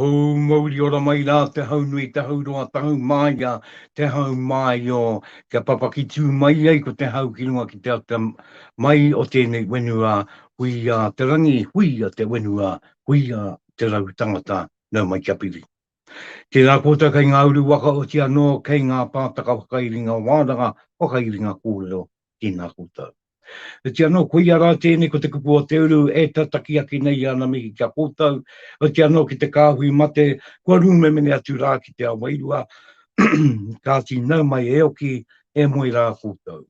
Hou mauriora mai rā te hau nui, te hau roa, te hau māia, te hau māio, kia papaki tū mai ai ko te hau ki runga ki te ata mai o tēnei whenua, huia te rangi, huia te whenua, huia te raru tangata, nau mai kia piri. Tēnā koutou kei ngā uru waka oti anō, kei ngā pātaka whakairinga wānanga, whakairinga kōrero, Tēnā koutou. Oiti anō, koia rā tēnei ko te kupu o te uru e tataki ake nei i ana mihi ki a koutou, oiti anō ki te kāhui mate, kua rūmemene atu rā ki te ao wairua, kāti nau mai e oki, e moe rā koutou.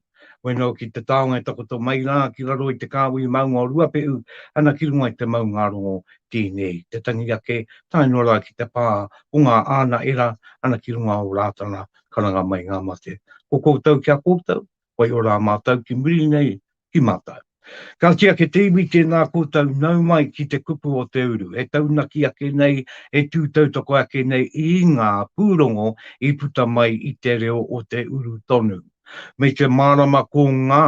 Weno ki te taonga e takoto mai rā ki raro i te kāhui maunga o Ruapehu, ana ki runga i te maungārongo tēnei, te tangi ake tae noa rā ki te pā o ngā āna era, ana ki runga o Rātana, karanga mai ngā mate. Ko koutou kia koutou, whai ora a mātou ki muri nei ki mātou. Ka kī ake te iwi tēnā koutou nau mai ki te kupu o te uru, e taunaki ake nei, e tū tautoko ake nei i ngā pūrongo i puta mai i te reo o te uru tonu. Me te mārama ko ngā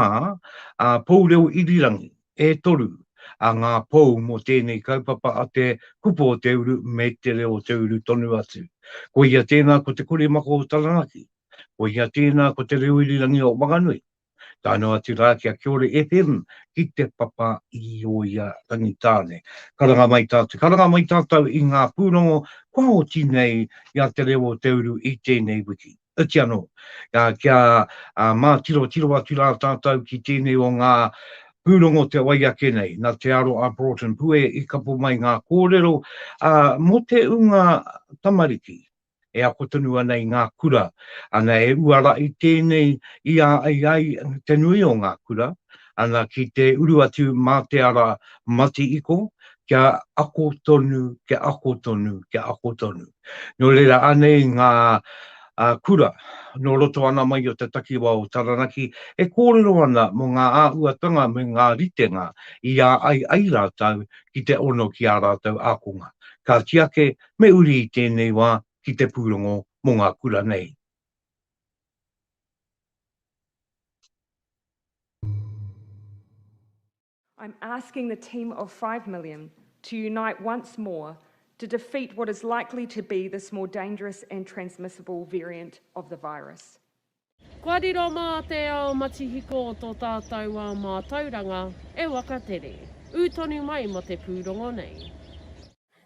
pou reo irirangi e toru, a ngā pou mō tēnei kaupapa a te kupu o te uru me te reo o te uru tonu atu. Koia tēnā ko Te Kuri Mako o Taranaki, koia tēnā ko Te Reo Irirangi o Wanganui, tae noa atu rā ki a Kiore FM ki te papa i Oia Rangitāne. Karanga mai tātou, karanga mai tātou i ngā pūrongo kua oti nei i a Te Reo o te Uru i tēnei wiki. Iti anō, kia mātirotiro atu rā tātou ki tēnei o ngā pūrongo te wai ake nei, nā te aro a Broughton Pue i kapo mai ngā kōrero mō te ūnga tamariki e ako tonu ana i ngā kura, ana e uarahi tēnei i a ai ai te nui o ngā kura, ana ki te uru atu mā te ara Mati Iko, kia ako tonu, kia ako tonu, kia ako tonu. Nō reira, anei ngā kura nō roto ana mai o te takiwā o Taranaki e kōrero ana mō ngā āhuatanga me ngā ritenga i ā ai ai rātou ki te ono ki ā rātou ākonga. Kāti ake, me uri i tēnei wā ki te pūrongo mō ngā kura nei. I'm asking the team of five million to unite once more to defeat what is likely to be this more dangerous and transmissible variant of the virus. Kua riro mā te ao matihiko o tō tātou wā mātauranga e wakatere. Ū tonu mai mō te pūrongo nei.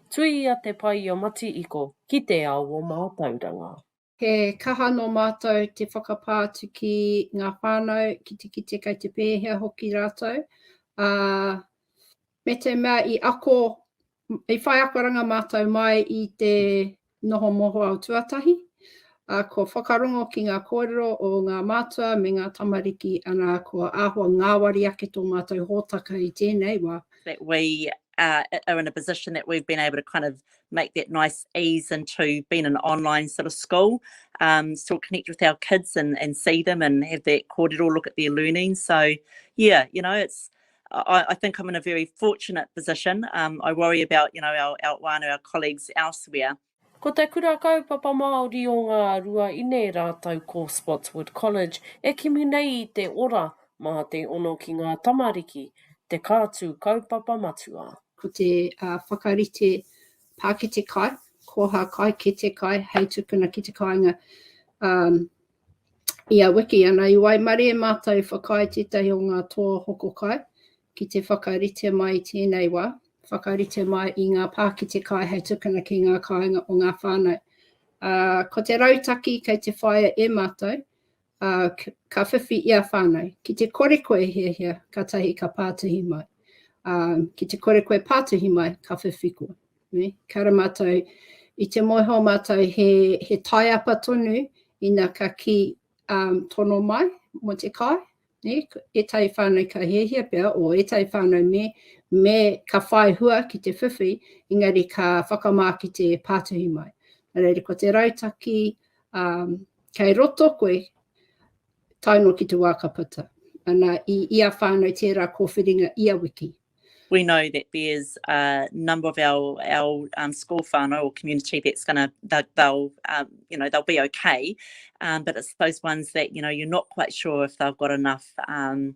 Tuia te paia mati iko ki te ao o mātauranga. He kaha nō mātou te whakapā atu ki ngā whānau, ki te kite kei te pēhea hoki rātou, ā, me te mea i ako, i whai akoranga mātou mai i te noho mohoao tuatahi, ā, kua whakarongo ki ngā kōrero o ngā mātua me ngā tamariki, anā, kua āhua ngāwari ake tō mātou hōtaka i tēnei wā. that we are in a position that we've been able to kind of make that nice ease into being an online sort of school, um, still connect with our kids and, and see them and have that kōrero look at their learning. So, yeah, you know, it's I, I think I'm in a very fortunate position. Um, I worry about, you know, our, our whānau, our colleagues elsewhere. Ko te kura kaupapa Māori o ngā rua ine rātau ko Spotswood College e kimi nei i te ora mā te ono ki ngā tamariki, te kātū kaupapa matua. Ko te whakarite pākete kai, koha kai, kete kai, hei tukuna ki te kāinga i a Wiki. Ana i waimarie mātou whakaae tētahi o ngā toa hoko kai ki te whakarite mai i tēnei wā, whakarite mai i ngā pākete kai hei tukuna ki ngā kāinga o ngā whānau. Ko te rautaki kei te whaia e mātou, ā, ka whiwhi i a whānau. Ki te kore koe e hiahia, kātahi ka pātuhi mai, ā, ki te kore koe e pātuhi mai, ka whiwhi koe. Ne? Ka ra mātou, i te moeho mātou he, he taiapa tonu, ina ka ki um, tono mai mo te kai, ne? e tai whānau ka hiahia pea, o e tai whānau me, me ka whai hua ki te whiwhi, engari ka whakamā ki te pātuhi mai. Nā reira, ko te rautaki, ā, kei roto koe, tae noa ki te wā ka puta. Ana, i ia whānau tērā kōwhiringa ia wiki. We know that there's a number of our, our um, school whānau or community that's going to, that they'll, um, you know, they'll be okay. Um, but it's those ones that, you know, you're not quite sure if they've got enough um,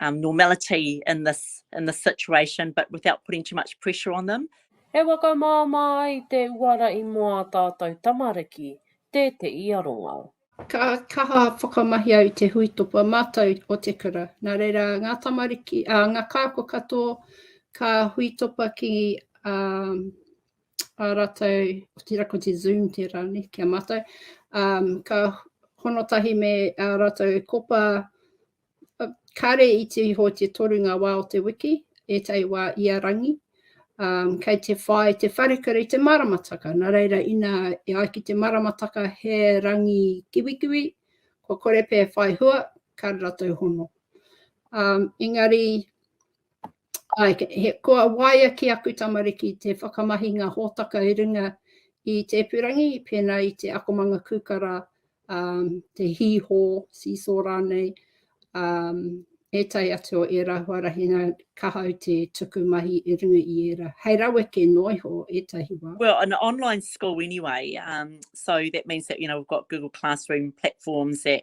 um, normality in this in this situation, but without putting too much pressure on them. E whakamāmā ai te uara i mō ā tātou tamariki tētehi aronga. Ka kaha whakamahi au i te huitopa mātou o te kura. Nā reira, ngā tamariki, a, ngā kāko katoa, ka huitopa ki a, a rātou, o tira ko te Zoom tērā ne, ki a mātou, um, ka honotahi me a rātou e kopa Uh, kare i te iho te toru ngā wā o te wiki, ētahi wā i a rangi, um, kei te whai te wharekura i te maramataka. Nā reira, ina e ai ki te maramataka he rangi kiwikiwi, ko kore pē whai hua, kāre ratou hono. Um, engari, Kua waia ki aku tamariki te whakamahinga hōtaka i runga i te ipurangi, pēnā i te akomanga kūkara, te hīhō, seesaw rānei, ētahi atu o ērā huarahi nā, ka hau te tuku mahi i runga i ērā. Hei raweke noa iho ētahi wā. Well, an online school anyway, so that means that, you know, we've got Google Classroom platforms that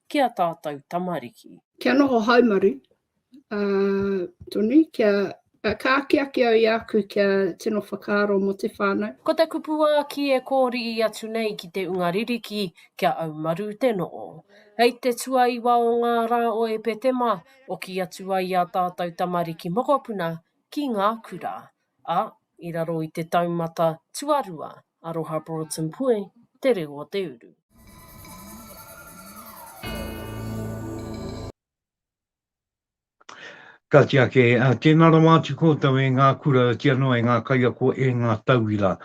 ki a tātou tamariki. Kia noho haumaru, ā, tonu, kia, ā, ka akiaki au i a aku kia tino whakaaro mō te whānau. Ko te kupuāki e kōriī atu nei ki te unga ririki kia aumaru te noho. Hei te tuaiwa o ngā rā o Epetema, oki atu ai a tātou tamariki mokopuna ki ngā kura, ā, i raro i te taumata tuarua Aroha Broughton Pue te reo o te uru. Ka tiake, tēnā rawa atu koutou e ngā kura, tia noa e ngā kaiako, e ngā tauira.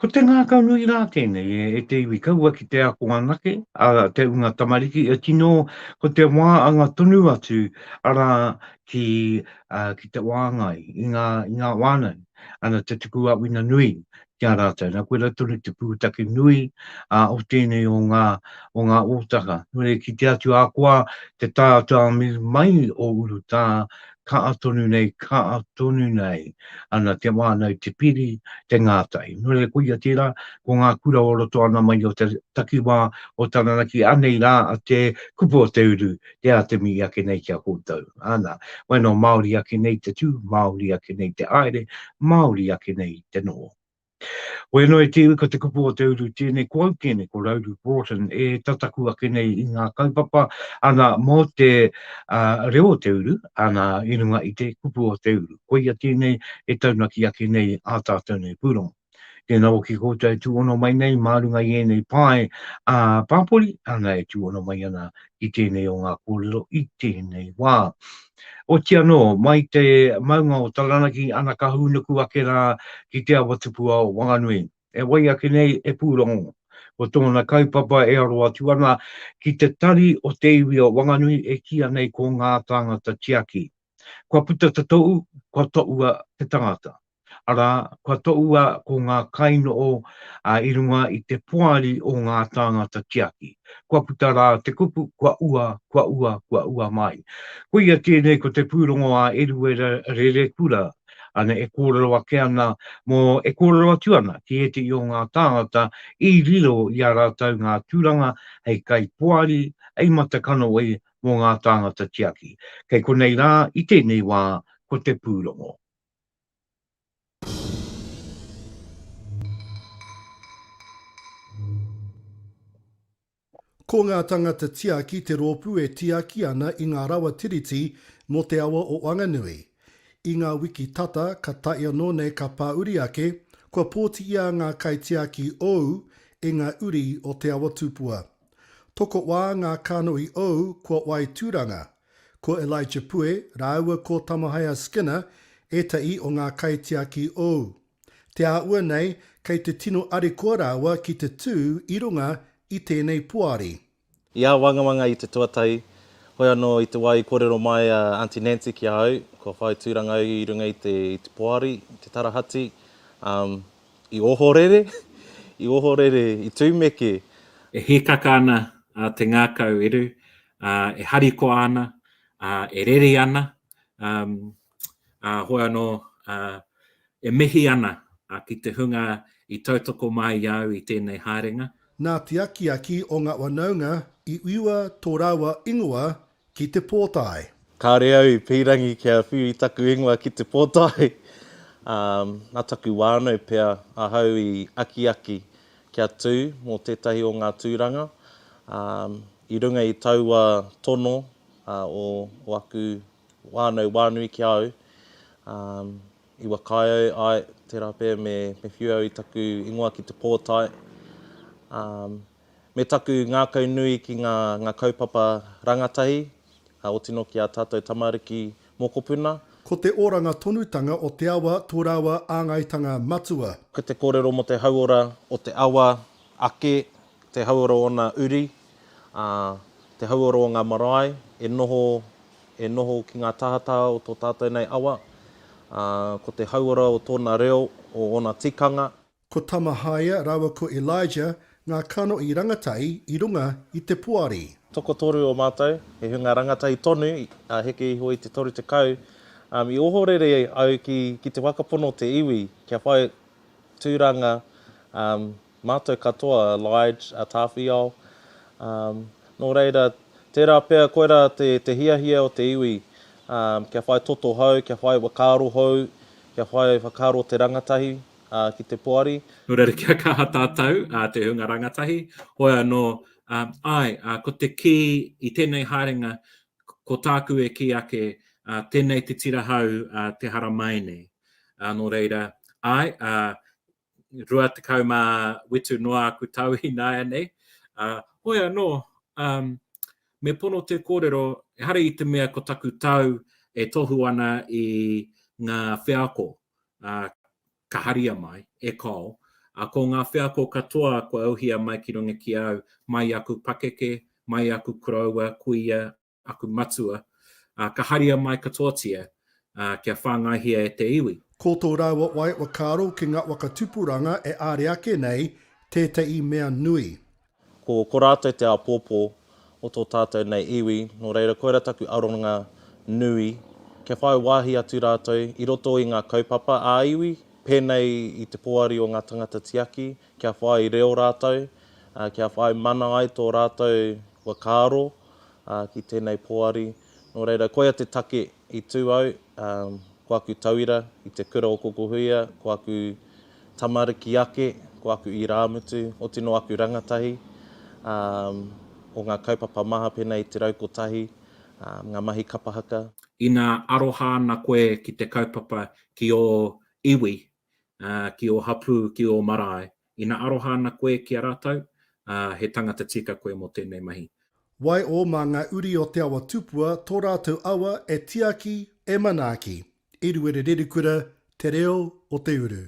Ko te ngākau nui rā tēnei e te iwi kaua ki te ako anake, a te unga tamariki, tino ko te wā anga tonu atu, arā, ki te wāngai, i ngā wānau, ana te tuku āwhina nui ki a rātou. Nā, koirā tonu te pūtake nui o tēnei o ngā ōtaka. Nō reira, ki te atu ahakoa te tātāmi mai o urutā, kaa tonu nei, kaa tonu nei, ana te wānau, te piri, te ngātai. Nō reira, koia tērā, ko ngā kura o roto ana mai o te takiwā o Taranaki, anei rā te kupu o te uru te Atemi i ake nei ki a koutou. Ana, wai no Maori ake nei te tu, Maori ake nei te aere, Maori ake nei te noho. Wenoe te iwi ko te kupu o te uru tene ko au tene ko Rauru Broughton e tataku ake nei i nga kaupapa ana mo te uh, reo o te uru ana i runga i te kupu o te uru. Koia tēnei e taunaki ake nei a tātou nei pūrongo. Tēnā hoki koutou e tūhono mai nei mā runga i ēnei pae a pāpori, ana e tūhono mai ana ki tēnei o ngā kōrero i tēnei wā. Oti anō, mai te maunga o Taranaki, ana ka hūnuku ake rā ki te awa tupua o Wanganui. E wai ake nei e Pūrongo, ko tōna kaupapa e aro atu ana ki te tari o te iwi o Wanganui e kīa nei ko Ngā Tāngata Tiaki. Kua puta ta tou, kua toua te tangata. Ara, kua toua ko nga kainoo a i runga i te poari o nga tāngata tiaki. Kua puta ra te kupu, kua ua, kua ua, kua ua mai. Koia tēnei ko te pūrongo a Eruera Rerekura, ana e kōrero ake ana mo, e kōrero atu ana ki ētehi o nga tāngata i riro i a ratou nga turanga hei kai poari, hei mata kanohi, mō ngā tāngata tiaki. Kei konei rā, i tēnei wā, ko te pūrongo. Ko ngā tāngata tiaki te rōpū e tiaki ana i ngā rawa tiriti mō te awa o Wanganui. I ngā wiki tata, ka tae anō nei ka pāuri ake, kua pōti ia ngā kaitiaki ōu e ngā uri o Te Awa Tupua. Tokowā ngā kānohi ou kua Wai Turanga, ko Elijah Pue rāua ko Tamahaia Skinner ētahi o ngā kaitiaki ou. Te āhua nei kei te tino arikoa rāua ki te tū i runga i tēnei poari. I āwangawanga i te tuatahi, hoi anō i te wā i kōrero mai a Aunty Nancy ki a au, kua whai tūranga au i runga i te poari, i te tarahati, umm, I ohorere, i ohorere, i tumeke. E hīkaka ana te ngākau eru, e harikoa ana, e reri ana, ā, hoi anō, e mihi ana ki te hunga i tautoko mai i a au i tēnei haerenga. Nā te akiaki o ngā whanaunga i whiua tō rāua ingoa Ki te pōtae. Kāore au i pīrangi kia whiu i taku ingoa ki te pōtae, ā, nā taku whānau pea ahau i akiaki kia tū mō tētahi o ngā tūranga, ā, i runga i taua tono o aku whānau whānui ki a au, ā, i whakaae au, āe, tērā pea me whiu au i taku ingoa ki te pōtae, ā. Me taku ngākau nui ki ngā ngā kaupapa rangatahi, ka oti noa ki ā tātou tamariki mokopuna. Ko te oranga tonutanga o te awa tō rāua āngaitanga matua. Ko te kōrero mō te hauora o te awa ake, te hauora o ōna uri, ā, te hauora o ngā marae e noho, e noho ki ngā tāhataha o tō tātou nei awa, ā, ko te hauora o tōna reo, o ōna tikanga. Ko Tamahaia rāua ko Elijah ngā kano i rangatahi i runga i te poari. Tokotoru o mātou, he hunga rangatahi tonu, ā, heke iho i te toru tekau, ā, i ohorere au ki, ki te whakapono te iwi kia whai tūranga, ā, mātou katoa, Lige, a Tāwhiao, ā, nō reira, tērā pea koirā te, te hiahia o te iwi, ā, kia whai toto hou, kia whai whakaaro hou, kia whai whakaaro te rangatahi, ā, ki te poari. Nō reira kia kaha tātou, ā, te hunga rangatahi, hoi anō, ā, āe, ā, ko te kī i tēnei haerenga, ko tāku e kī ake, ā, tēnei te tira hau, ā, te haramai nei. Ā, nō reira, āe, ā, rua tekau mā whitu noa aku tau ināianei, ā, hoi anō, ā, me pono te kōrero, ehara i te mea ko taku tau e tohu ana i ngā wheako, ka haria mai, e Col, ā, ko ngā wheako katoa kua auhia mai ki runga ki au, mai i aku pakeke, mai i aku koroua, kuia, aku matua, ā, ka haria mai katoatia, ā, kia whāngaihia e te iwi. Ko tō rāua wai whakaaro ki ngā waka tupuranga e āre ake nei tētahi mea nui. Ko, ko rātou te āpōpō o tō tātou nei iwi, nō reira koira taku aronga nui, kia whai wāhi atu rātou i roto i ngā kaupapa ā-iwi, pēnei i te Poari o ngā Tangata Tiaki, kia whai reo rātou, kia whai mana ai tō rātou whakaaro ki tēnei Poari. Nō reira, koia te take i tū au, ko aku tauira i te kura o Kokohuia, ko aku tamariki ake, ko aku irāmutu, oti nō aku rangatahi, ā, o ngā kaupapa maha pēnā i te rau kotahi, ā, ngā mahi kapa haka. Ina aroha ana koe ki te kaupapa ki ō iwi, ā, ki ō hapū, ki ō marae, Ina aroha ana koe ki a ratou, a, he tangata tika koe mo tenei mahi. Wai'o ma nga uri o Te Awa Tupua to ratou awa e tiaki, e manaaki. Eruere Rerikura, Te Reo o te Uru.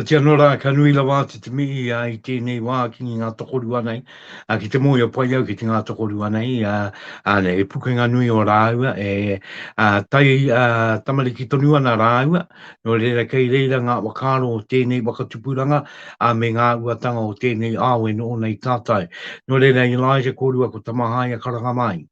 Otiia anō rā, ka nui rawa atu te mihi i tēnei wā ki ngā tokorua nei, ki te mōhio pai au ki te ngā tokorua nei, he pukenga nui ō rāua, e tai tamariki tonu ana rāua, nō reira kei reira ngā whakaaro o tēnei waka tupuranga, ā, me ngā uatanga o tēnei ao e noho nei tātou. Nō reira, Elijah kōrua ko Tamahaia karanga mai.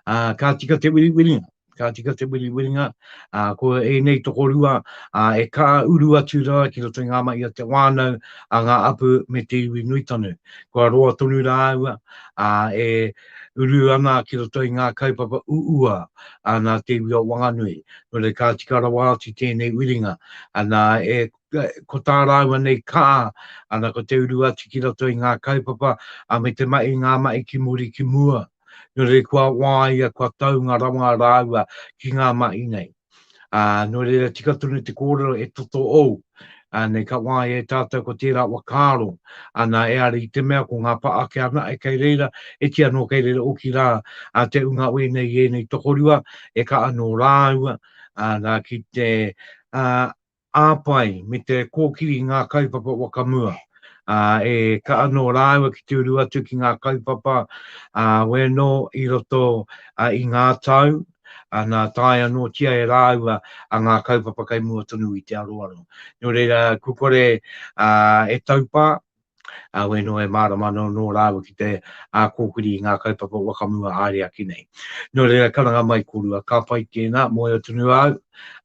uh, ka tika te wiriwiringa, ka tika te wiriwiringa, uh, ko ēnei tokorua uh, e kā uru atu rā ki roto i ngā mai a te wānau, a ngā apu me te iwi nui tonu. Kua roa tonu rā aua, uh, e uru ana ki roto i ngā kaupapa uua uh, nā te iwi o Wanganui. Nō rei kā tika rawa atu tēnei wiringa, ana e ko tā rāua nei kā, ana ko te uru atu ki roto i ngā kaupapa, a me te mai i ngā mai ki muri ki mua. Nō reira kua wāia, kua taunga rawa rāua ki ngā mahi nei. Ā, nō reira tika tonu te kōrero e toto ou, ā, nei ka wāia e tātou ko tērā whakaaro, ana e are i te mea ko ngā pākehā nae kei reira, e kī anō kei reira oki rā, ā, te ūnga wēnei i ēnei tokorua, e ka anō rāua, ā, nā ki te, ā, ā-pai me te kōkiri i ngā kaupapa whakamua, ā, e ka anō rāua ki te uru atu ki ngā kaupapa, ā, wēnō i roto i ngā tau, ā, nā, tae anōtia e rāua ngā kaupapa kei mua tonu i te aroaro. Nō reira, kua kore e taupā, Ueno e mārama ana nō rāua ki te ā-kōkiri i ngā kaupapa whakamua ā-riaki nei. Nō reira, karanga mai korua, ka pai tēnā, mōhio tonu au,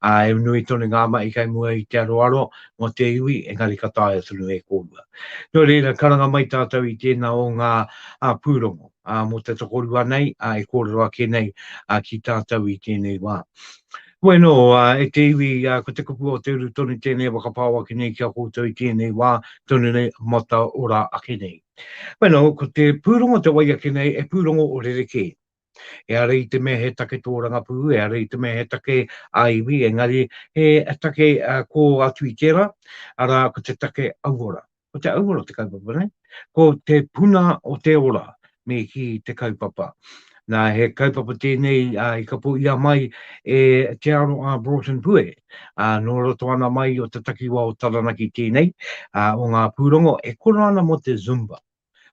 ā, e nui tonu ngā mahi kei mua i te aroaro mō te iwi, engari ka taea tonu e kōrua. Nō reira, karanga mai tātou i tēnā o ngā pūrongo mō te tokorua nei e kōrero ake nei ki tātou i tēnei wā. Koe anō, e te iwi, ko te kupu o te uru tonu tēnei e whakapao ake nei ki a koutou i tēnei wā tonu nei mataora ake nei. Koe anō, ko te pūrongo te wai ake nei he pūrongo o rerekē. Ehara i te mea he take tōrangapū, ehara i te mea he take ā-iwi, engari he take kō atu i tērā, arā, ko te take auora. Ko te auora o te kaupapa nei, ko te puna o te ora me ki te kaupapa. Nā, he kaupapa tēnei a, i kapo ia mai e Te Aro a Broughton Pue, a, nō roto ana mai o te takiwa o Taranaki tēnei, a, o ngā pūrongo e koro ana mō te Zumba,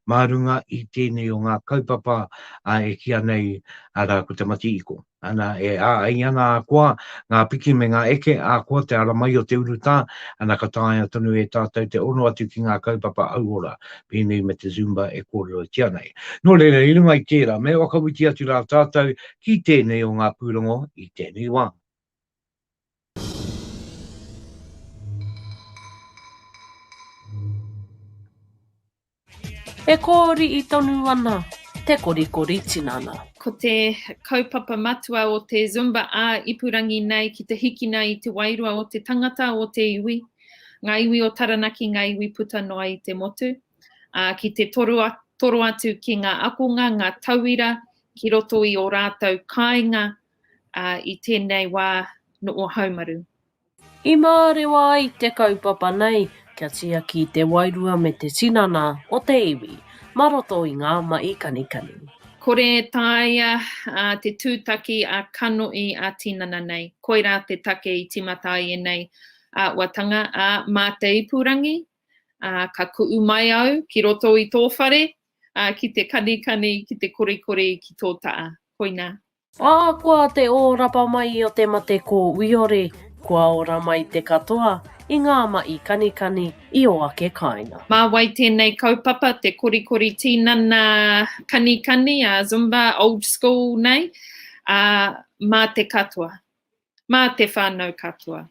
mā runga i tēnei o ngā kaupapa a, e kīa nei, arā, ko te mati iko. Ana, e ā ai ana a koa, ngā piki me ngā eke a koa te ara mai o te urutā, ana ka taea tonu e tātou te ono atu ki ngā kaupapa auora, pēnei me te Zumba e kōrerotia nei. Nō reira, i runga i tērā, me whakawiti atu rā tātou ki tēnei o ngā pūrongo i tēnei wā. E kōriʻi tonu ana te korikori tinana. Ko te kaupapa matua o te Zumba ā-ipurangi nei ki te hikina i te wairua o te tangata, o te iwi, ngā iwi o Taranaki, ngā iwi puta noa i te motu, ā, ki te toro atu ki ngā akonga, ngā tauira ki roto i ō rātou kāinga ā, i tēnei wā noo haumaru. I mārewa ai te kaupapa nei kia tiaki te wairua me te tinana o te iwi ma roto i ngā mahi kanikani. Kore e taea te tūtaki a kanohi a tinana nei. Koirā te take i timata ai enei aawatanga, a, mā te ipurangi, a, ka kuu mai au ki roto i tō whare, a, ki te kanikani, ki te korikori, ki tō taa. Koina. Ahakoa te ōrapa mai o te mate kōwiore, kua ora mai te katoa i ngā maʻi kanikani i ō ake kāinga. Mā wai tēnei kaupapa, te korikori tīnana kanikani, a Zumba, old school nei, ā, mā te katoa. mā te whānau katoa.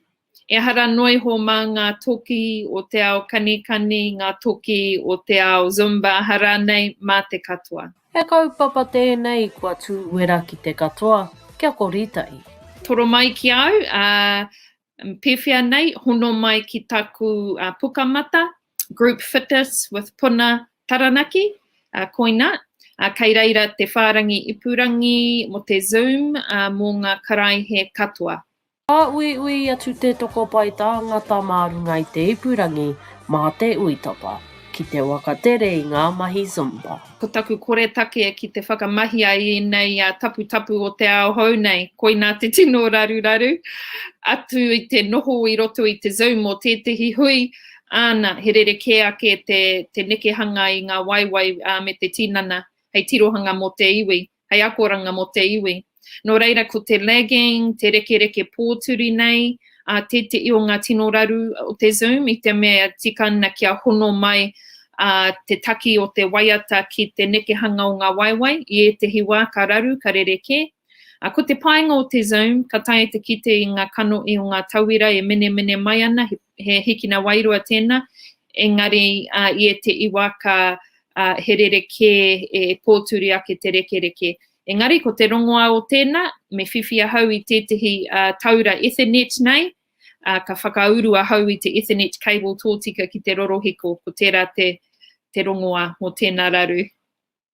Ehara noa iho mā ngā toki o te ao kanikani, ngā toki o te ao Zumba, aha rānei, mā te katoa. He kaupapa tēnei kua tū uera ki te katoa, kia kori tahi. Toro mai ki a au, ā, pēwhea nei, hono mai ki taku pukamata, Group Fitness with Puna Taranaki, uh, koina, uh, kei reira te whārangi ipurangi mo te Zoom uh, mō ngā karaihe katoa. Ka uiui atu te toko pai tāngata mā runga i te ipurangi mā te uitapa ki te waka tere i ngā mahi Zumba. Ko taku koretake ki te whakamahi a ēnei a taputapu o te ao hou nei, koina te tino raruraru atu i te noho i roto i te Zoom o tētehi hui, Āna, he rerekē ake te, te nekehanga i ngā waewae ā, me te tinana, hei tirohanga mō te iwi, hei akoranga mō te iwi. Nō reira, ko te lagging, te rekereke pōturi nei, ā, tēteʻi o ngā tino raru o te Zoom, i te mea tika ana kia hono mai ā, te taki o te waiata ki te nekehanga o ngā waewae, i ētehi wā ka raru, ka rerekē, A ko te painga o te Zoom, ka taea te kite i nga kanohi o nga tauira e menemene mai ana, he hikina wairua tena, engari i etehi wa ka he rerekē e pōturi ake te rekereke. Engari ko te rongoa o tena, me whiwhi ahau i tetehi taura Ethernet nei, ka whakauru ahau i te Ethernet cable tōtika ki te rorohiko, ko tera te rongoa mo tena raru.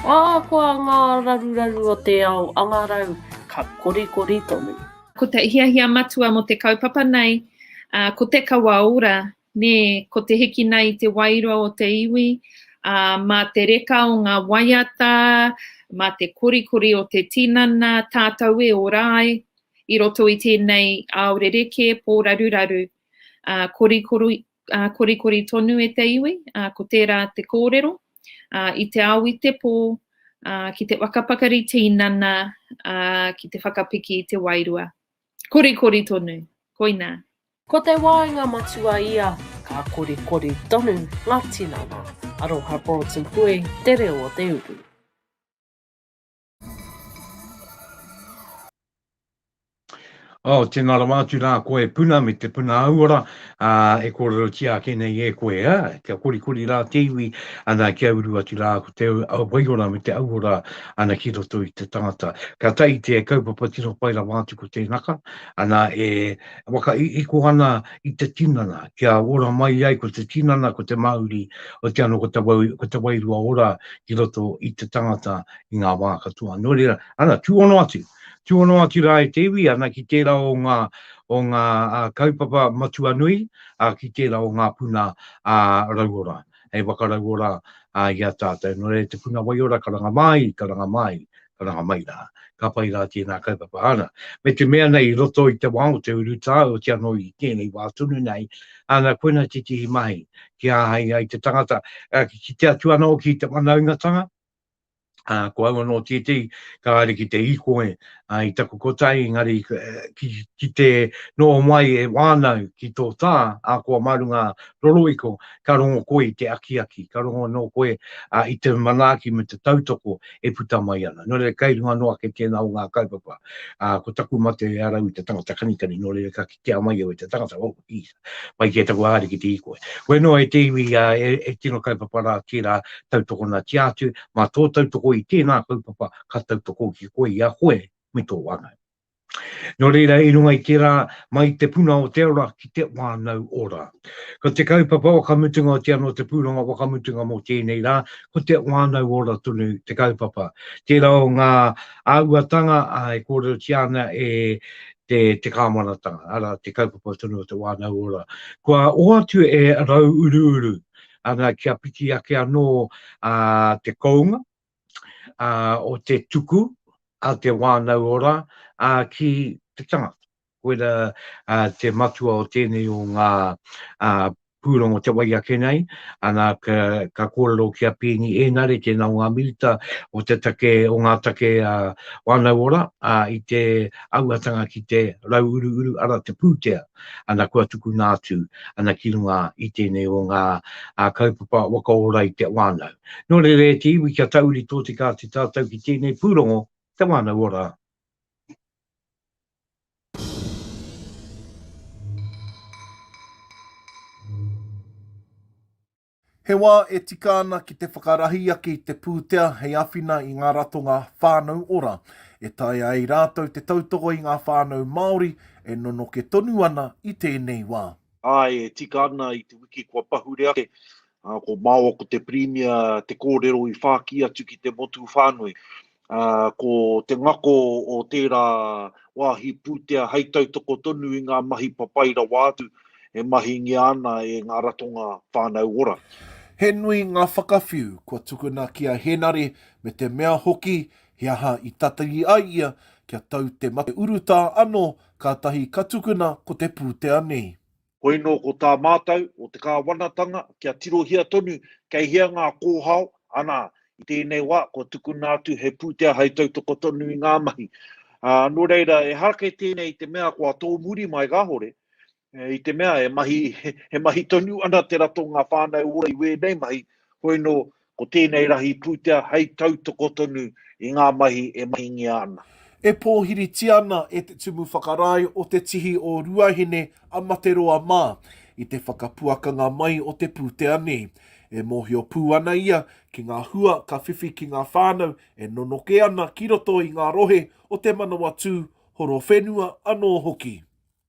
Ahakoa ngā raruraru o te ao angarau, ka korikori tonu. Ko te hiahia matua mō te kaupapa nei, ko te kawa ora, nē, ko te hikina i te wairua o te iwi, ā, mā te reka o ngā waiata, mā te korikori o te tinana, tātou e ora ai i roto i tēnei ao rerekē, pōraruraru. Korikori tonu e te iwi, ko tērā te kōrero. ā, i te ao i te pō, ā, ki te waka pakari tīnana, ā, ki te whakapiki i te wairua. Korikori tonu. Koinā. Ko te waenga matua ia, ka korikori tonu ngā tinana. Aroha Broughton Pue, Te Reo o Te Uru. Oh, tēnā rawa atu rā koe puna me te puna auora, ā, e kōrerotia ake nei e koe, ā, kia korikori rā te iwi, ana, kia uru atu rā ko te waiora me te auora, ana, ki roto i te tangata. Ka tahi te kaupapa tino pai rawa atu ko tēnaka, ana, e whakaiiko ana i te tinana, kia ora mai ai ko te tinana, ko te mauri, otiano ko te wairua ora ki roto i te tangata, i ngā wā katoa. Nō reira, ana, tūhono atu, tūhono atu rā e te iwi, ana, ki tērā o ngā, o ngā kaupapa matua nui, ā, ki tērā o ngā puna ā, rauora, hei whakarauora ā, i a tātou. Nō reira, te puna waiora, karanga māi, karanga māi, karanga mai rā. Ka pai rā tēnā kaupapa. Ana, me te mea nei, i roto i te wā o te urutā, otiia anō i tēnei wā tonu nei, ana, koina tētehi mahi kia āhei ai te tangata, ā, ki te kitea atu ana hoki i te whanaungatanga, ā, ko au anō tētehi ka haere ki te hīkoi i taku kotahi, engari ki te noho mai e wānau ki tō tā, ahakoa mā runga rorohiko, ka rongo koe i te akiaki, ka rongo anō koe i te manaaki me te tautoko e puta mai ana. Nō reira, kei runga noa ake tēnā o ngā kaupapa, ko taku mate e arau i te tangata kanikani, nō reira ka. ki te ama i au e te tangata, oh, geez, pai ki e taku ariki te i koe. Koe noa e te iwi a, e, e tino kaupapa rā tērā tautokonatia atu, mā tō tautoko i tēnā kaupapa ka tautoko ki koe i a koe me tō wānau. Nō reira, i runga i tērā, mai te puna o te ora ki te wānau ora. Ko te kaupapa wakamutunga o te anō te pūrongo wakamutunga mō tēnei rā, ko te wānau ora tonu te kaupapa. Tērā o ngā āhuatanga e kōrerotia ana e te, te kāwanatanga, arā, te kaupapa tonu o te wānau ora. Kua hoatu e Rauuruuru ana kia piki ake anō ā, te kounga ā, o te tuku a te wānau ora ā, ki te tangata. Koira ā, te matua o tēnei o ngā ā, Pūrongo te wai ake nei, ana ka kōrero ki a Pēni Ēnare, tēnā o ngā minita o te take, o ngā take whānau ora, ā, i te auatanga ki te rauuruuru, arā, te pūtea, ana kua tukuna atu, ana ki runga i tēnei o ngā kaupapa waka ora i te whānau. Nō reira e te iwi kia tauri tōtika atu tātou ki tēnei pūrongo, te whānau ora. He wā e tika ana ki te whakarahi ake i te pūtea hei āwhina i ngā ratonga Whānau Ora, e taea ai rātou te tautoko i ngā whānau Māori e nonoke tonu ana i tēnei wā. Āe, e tika ana i te wiki kua pahure ake Ā, ko māua ko te Pirimia te kōrero i whāki atu ki te motu whānui. Ā, ko te ngako o tērā wāhi pūtea hei tautoko tonu i ngā mahi papai rawa atu e mahingia ana e ngā ratonga whānau ora. He nui ngā whakawhiu kua tukuna ki a Henare me te mea hoki he aha i tatari ai ia kia tau te mate urutā anō kātahi ka tukuna ko te pūtea nei. Hoino ko tā mātou o te Kāwanatanga kia tirohia tonu kei hea ngā kōhao, anā, i tēnei wā kua tukuna atu he pūtea hai tautoko tonu i ngā mahi. Ā, nō reira, ehara kei tēnei i te mea kua tōmuri mai kāore, i te mea he mahi, he mahi tonu ana te ratonga whānau ora i wēnei mahi, hoino Ko tēnei rahi pūtea hei tautoko tonu i ngā mahi e mahingia ana. E pōhiritia ana e Te Tumu Whakarae o Te Tihi o Ruahine a Materoa mā i te whakapuakanga mai o te pūtea nei. E mōhio pū ana ia ki ngā hua ka whiwhi ki ngā whānau e nonoke ana ki roto i ngā rohe o Te Manawatū, Horowhenua anō hoki.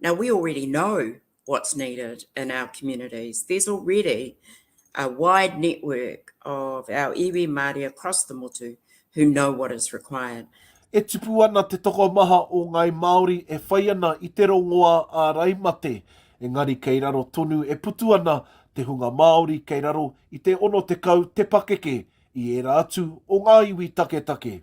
Now, we already know what's needed in our communities. There's already a wide network of our iwi Māori across the motu who know what is required. E tipu ana te tokomaha o Ngāi Māori e whai ana i te rongoā ārai mate, engari kei raro tonu e putu ana te hunga Māori kei raro i te 60 te pakeke i ērā atu o ngā iwi taketake.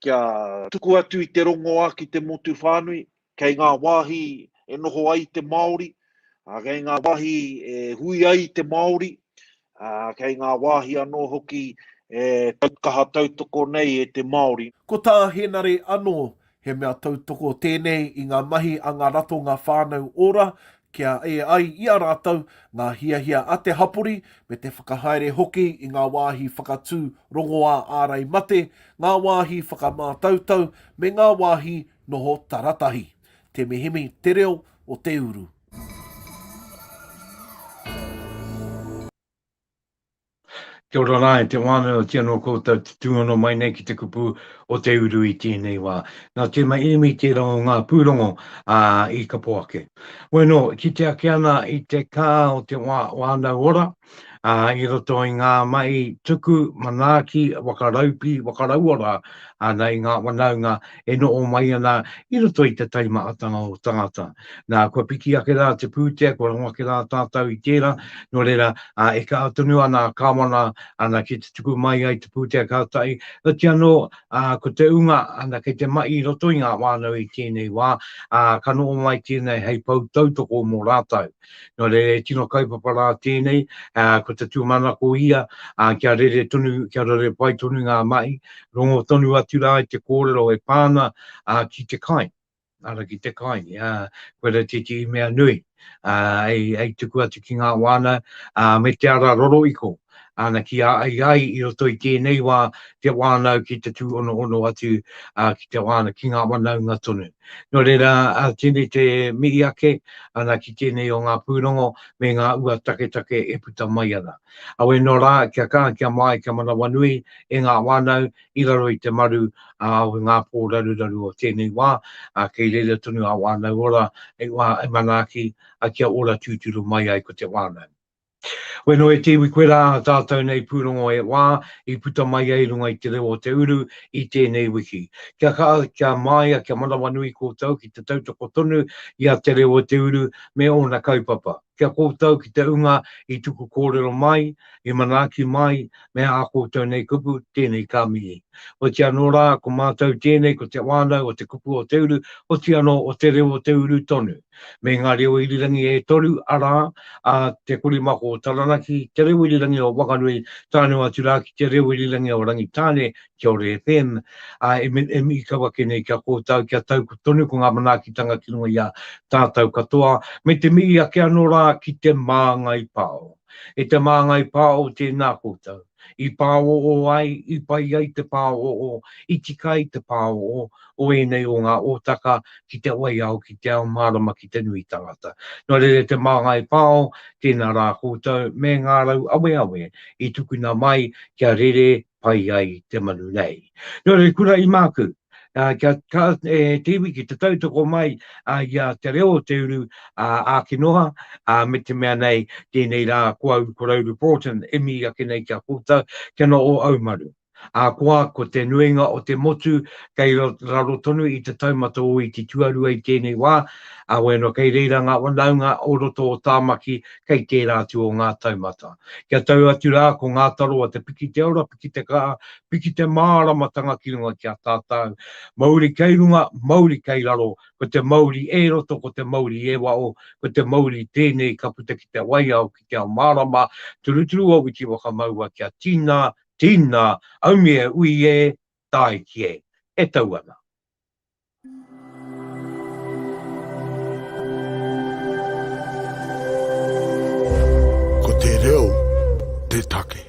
Kia tuku atu i te rongoā ki te motu whānui, kei ngā wāhi e noho ai te Māori, kei ngā wāhi e hui ai te Māori, kei ngā wāhi anō hoki e kaha tautoko nei e te Māori. Ko tā Henare anō, he mea tautoko tēnei i ngā mahi a ngā ratonga whānau ora, kia ē ai i a rātou ngā hiahia a te hapori me te whakahaere hoki i ngā wāhi whakatū rongoā ārai mate, ngā wāhi whakamātautau me ngā wāhi noho taratahi. Temihemi te reo o te uru. Kia ora rā e te wānau, ki anō koutou te tūhono mai nei ki te kupu o te uru i tēnei wā. Nā Tēma Irimi tērā o ngā pūrongo ā, i kapo ake. Bueno, kite ake ana i te kā o te wā, wānau ora, ā, i roto i ngā mahi tuku, manaaki, wakaraupi, wakarauora, āna i ngā wanaunga, e noho mai ana i roto i te taimahatanga o tangata. Nā, kua piki ake rā te pūtea, kua rongo ake rā tātou i tērā, nō reira, ā, e kaha tonu ana a Kāwana, ana, ki te tuku mai ai te pūtea kātahi, heoti anō, ā, ko te ūnga, ana, kei te mahi i roto i ngā whānau i tēnei wā, ā, ka noho mai tēnei hei pou tautoko mō rātou. Nō reira e tino kaupapa rā tēnei, ko te tūmanako ia kia rere tonu, kia rere pai tonu ngā mahi, rongo tonu atu rā i te kōrero e pā ana ki te kai, ara ki te kai, koe rā tētehi mea nui hei tuku atu ki ngā wānau me te ara rorohiko. ana ki a ai ai i roto i tēnei wā te wānau ki te tūonohono atu ki te wānau, ki ngā wanaunga tonu. Nō reira, tēnei te mihi ake ana ki tēnei o ngā pūrongo me ngā ua taketake e puta mai ana. Awe nō rā, kia kaha, kia māi, kia manawanui e ngā wānau i raro i te maru o ngā pō raruraru o tēnei wā, kei reira tonu a Wānau Ora hei wā e manaaki kia ora tūturu mai ai ko te wānau. Weno e te iwi koe rā tātou nei pūrongo e wā i puta mai ai runga i te reo o te uru i tēnei wiki. Kia kaha, kia māia, kia manawanui kōtou ki te tautoko tonu i a te reo o te uru me ōna kaupapa. Kia kōtou ki te unga i tuku kōrero mai, i manaaki mai, me ā koutou nei kupu, tēnei ka mihi. Oiti anō rā, ko mātou tēnei, ko te whānau o te kupu o te uru, oiti anō o te reo o te uru tonu. Me ngā reo irirangi e toru, arā, a Te Korimako o Taranaki, Te Reo Irirangi o Whanganui, tānō atu rā ki Te Reo Irirangi o Rangitāne, Kiore FM, ā, e me, e mihi kau ake nei ki a koutou kia tau tonu ko ngā manaakitanga ki runga i a tātou katoa, me te mihi ake anō rā ki Te Māngai Pao. E te māngai pāo tēnā koutou. I pāoō ai, i pai ai te pāoō, i tika ai te pāoō o ēnei o ngā ōtaka ki te waiao, ki te ao mārama, ki te nui tangata. Nō reira te māngai pāo tēnā rā koutou me ngā rau aweawe i tukuna mai kia rere pai ai te manu nei. Nō reira, kura i māku, kia ka, e, te iwi ki te tautoko mai a, i a te reo o te uru, a, āki noa, a, me te mea nei, tēnei rā ko au, ko Rowley Broughton, e mii ake nei ki a koutou, kia noa o au manu. Ahakoa, ko te nuinga o te motu, kei raro tonu i te taumata o Iti Tuarua i tēnei wā, a, wai anō, kei reira ngā whanaunga o roto o Tāmaki, kei tērā atu o ngā taumata. Kia tau atu rā ko ngā taro a te piki te ora, piki te kaha, piki te māramatanga ki runga ki a tātau. Mauri kei runga, mauri kei raro, ko te mauri e roto, ko te mauri e waho, ko te mauri tēnei ka puta ki te waiao, ki te ao mārama, turuturu o witi whakamaua kia tīna, tīna, aumi e ui e, tāiki e. E tau ana. Ko te reo te take.